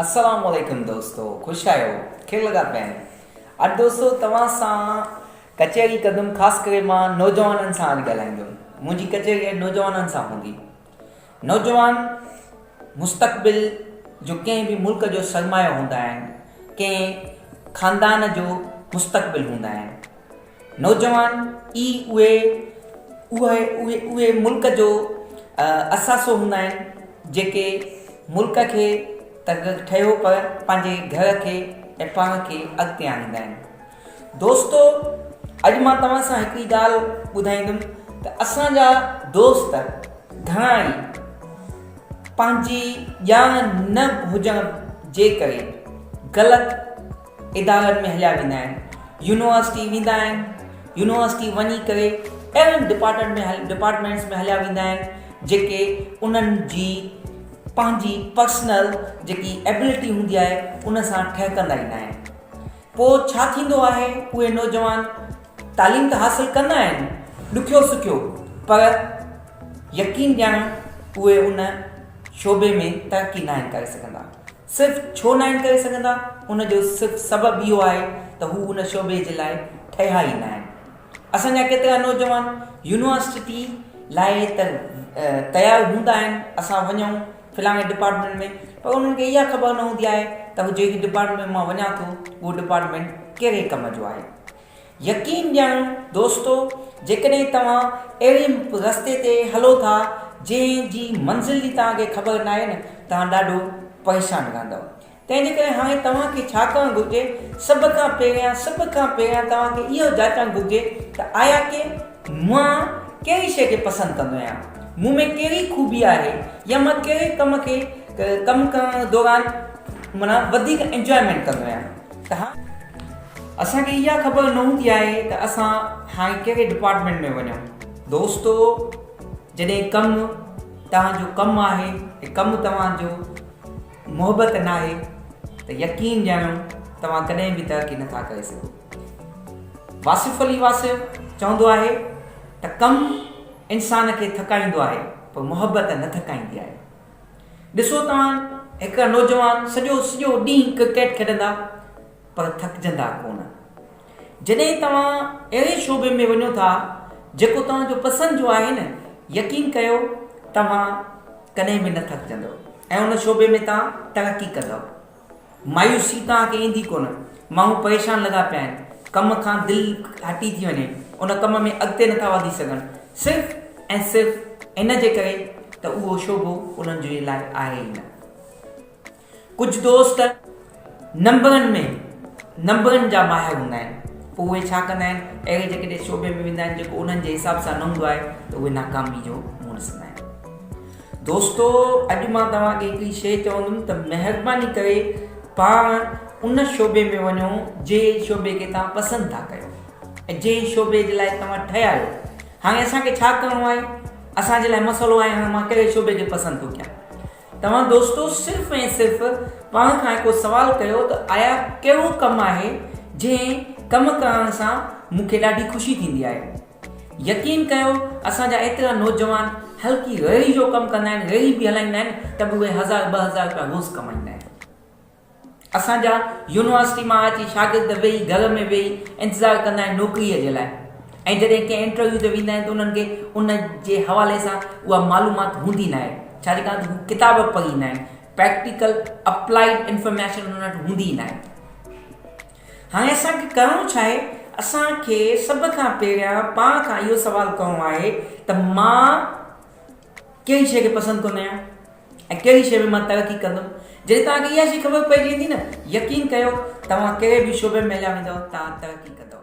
السلام عليڪم دوستو خوش آهيو کير لڳا پيا آهن اڄ دوستو توهان سان ڪچهري ڪندم خاص ڪري مان نوجوانن سان اڄ ڳالهائيندم منهنجي ڪچهري اڄ نوجوانن سان هوندي نوجوان مستقبل جو ڪنهن به ملڪ جو سرمايو هوندا آهن، ڪنهن خاندان جو مستقبل هوندا آهن. نوجوان ئي اهي اهي اهي ملڪ جو اثاثو هوندا آهن جيڪي ملڪ کي ته ٺهيو پر پنهنجي گهر کي ۽ پاڻ کي اڳتي آڻيندا آهن. دوستو اڄ مان توهان سان هڪ ئي ڳالهه ٻڌائيندم ته اسان جا دوست گهڻا ئي پنهنجي ڄاڻ نه هجڻ جي ڪري غلط ادارن ۾ هليا ويندا آهن يونيورسٽي ويندا آهن يونيورسٽي وڃي ڪري اهڙن ڊپارٽمينٽ ۾ ڊپارٽمينٽس ۾ هليا ويندا آهن جيڪي انهن جي پنهنجي پرسنل جيڪي ايبلٽي هوندي آهي ان سان ٺهڪندا ئي ناهن پوء ڇا ٿيندو آهي اهي نوجوان تعليم ته حاصل ڪندا آهن ڏکيو سکيو پر يقين ڏياڻو اهي ان شعبي ۾ ترقي ناهن ڪري سگهندا صرف ڇو ناهن ڪري سگهندا ان جو صرف سبب اهو آهي ته هو ان شعبي جي لاء ٺهيا ئي ناهن اسان جا ڪيترا نوجوان يونيورسٽي لاء ته تيار هوندا آهن اسان وڃون فلاڻي ڊپارٽمينٽ ۾ پر انهن کي اها خبر نه هوندي آهي ته هو جهڙي ڊپارٽمينٽ ۾ مان وڃان ٿو اهو ڊپارٽمينٽ ڪهڙي ڪم جو آهي. يقين ڄاڻو دوستو جيڪڏهن توهان اهڙي رستي تي هلو ٿا جنهن جي منزل جي توهان کي خبر ناهي نه توهان ڏاڍو پريشان رهندؤ تنهن جي ڪري هاڻي توهان کي ڇا ڪرڻ گهرجي؟ سڀ کان پهريان سڀ کان پهريان توهان کي اهو جاچڻ گهرجي ته آيا ڪي مان ڪهڙي شيء کي پسند ڪندو آهيان؟ مون ۾ ڪهڙي خوبي آهي يا مان ڪهڙي ڪم کي ڪم ڪرڻ دوران معنيٰ وڌيڪ انجوائمينٽ ڪندو آهيان ته هاڻي اسان کي اها خبر نه هوندي آهي ته اسان هاڻي ڪهڙي ڊپارٽمينٽ ۾ وڃون دوستو جڏهن ڪم توهان جو ڪم آهي ۽ ڪم توهان جو محبت ناهي ته يقين ڄاڻو توهان ڪڏهن به ترقي نٿا ڪري سگهو. واصف علي واصف چوندو آهي ته ڪم انسان کي ٿڪائيندو آهي پر محبت نه ٿڪائيندي آهي. ڏسو توهان هڪ نوجوان سڄو سڄو ڏينهن ڪرڪيٽ کيڏندا، پر ٿڪجندا ڪونه. جڏهن توهان اهڙي شعبي ۾ وڃو ٿا جيڪو توهان جو پسند جو آهي نه يقين ڪيو توهان ڪڏهن به نه ٿڪجندؤ ۽ ان شعبي ۾ توهان ترقي ڪندؤ. مايوسي توهان کي ايندي ڪونه. ماڻهو پريشان لڳا پيا آهن. ڪم کان دل هٽي ٿي وڃي. ان ڪم ۾ اڳتي نٿا وڌي سگهن صرف ۽ صرف ان جي ڪري ته اهو شعبو انهن جي لاء آهي ئي نه. ڪجهه دوست نمبرن ۾ نمبرن جا ماهر هوندا آهن پوء اهي ڇا ڪندا آهن اهڙي جيڪڏهن شعبي ۾ ويندا آهن جيڪو انهن جي حساب سان نه هوندو آهي ته اهي ناڪامي جو منهن ڏسندا آهن دوستو اڄ مان توهان کي هڪڙي شيء چوندم ته مهرباني ڪري پاڻ ان شعبي ۾ وڃو جي شعبي کي توهان پسند ٿا ڪيو ۽ جي شعبي جي لاء توهان ٺهيا آهيو هاڻي اسان کي ڇا ڪرڻو آهي اسان جي لاء مسئلو آهي هاڻي مان ڪهڙي شعبي کي پسند ٿو ڪيان توهان دوستو صرف ۽ صرف پاڻ کان هڪڙو سوال ڪيو ته آيا ڪهڙو ڪم آهي جنهن ڪم ڪرڻ سان مون کي ڏاڍي خوشي ٿيندي آهي. يقين ڪيو اسان جا ايترا نوجوان هلڪي ريڙهي جو ڪم ڪندا آهن ريڙهي به هلائيندا آهن ته به اهي هزار ٻه هزار رپيا روز ڪمائيندا آهن. اسان جا يونيورسٽي مان اچي شاگرد ويهي گهر ۾ ويهي انتظار ڪندا آهن نوڪريء جي لاء ۽ جڏهن ڪنهن انٽرويو تي ويندا آهن ته انهن کي ان جي حوالي سان اها معلومات هوندي ناهي ڇا جي ڪارڻ ته هو ڪتاب به پڙهي ايندا آهن پريڪٽيڪل اپلائيڊ انفارميشن انهن وٽ هوندي ئي ناهي هاڻي اسان کي ڪرڻو ڇا آهي اسان کي سڀ کان پهريان پاڻ کان اهو سوال ڪرڻو آهي ته مان ڪهڙي شيء کي پسند ڪندا آهيو ۽ ڪهڙي شيء ۾ مان ترقي ڪندم. جڏهن توهان کي اها شيء خبر پئجي ويندي نه، يقين ڪيو توهان ڪهڙي به شعبي ۾ هليا ويندؤ توهان ترقي ڪندؤ.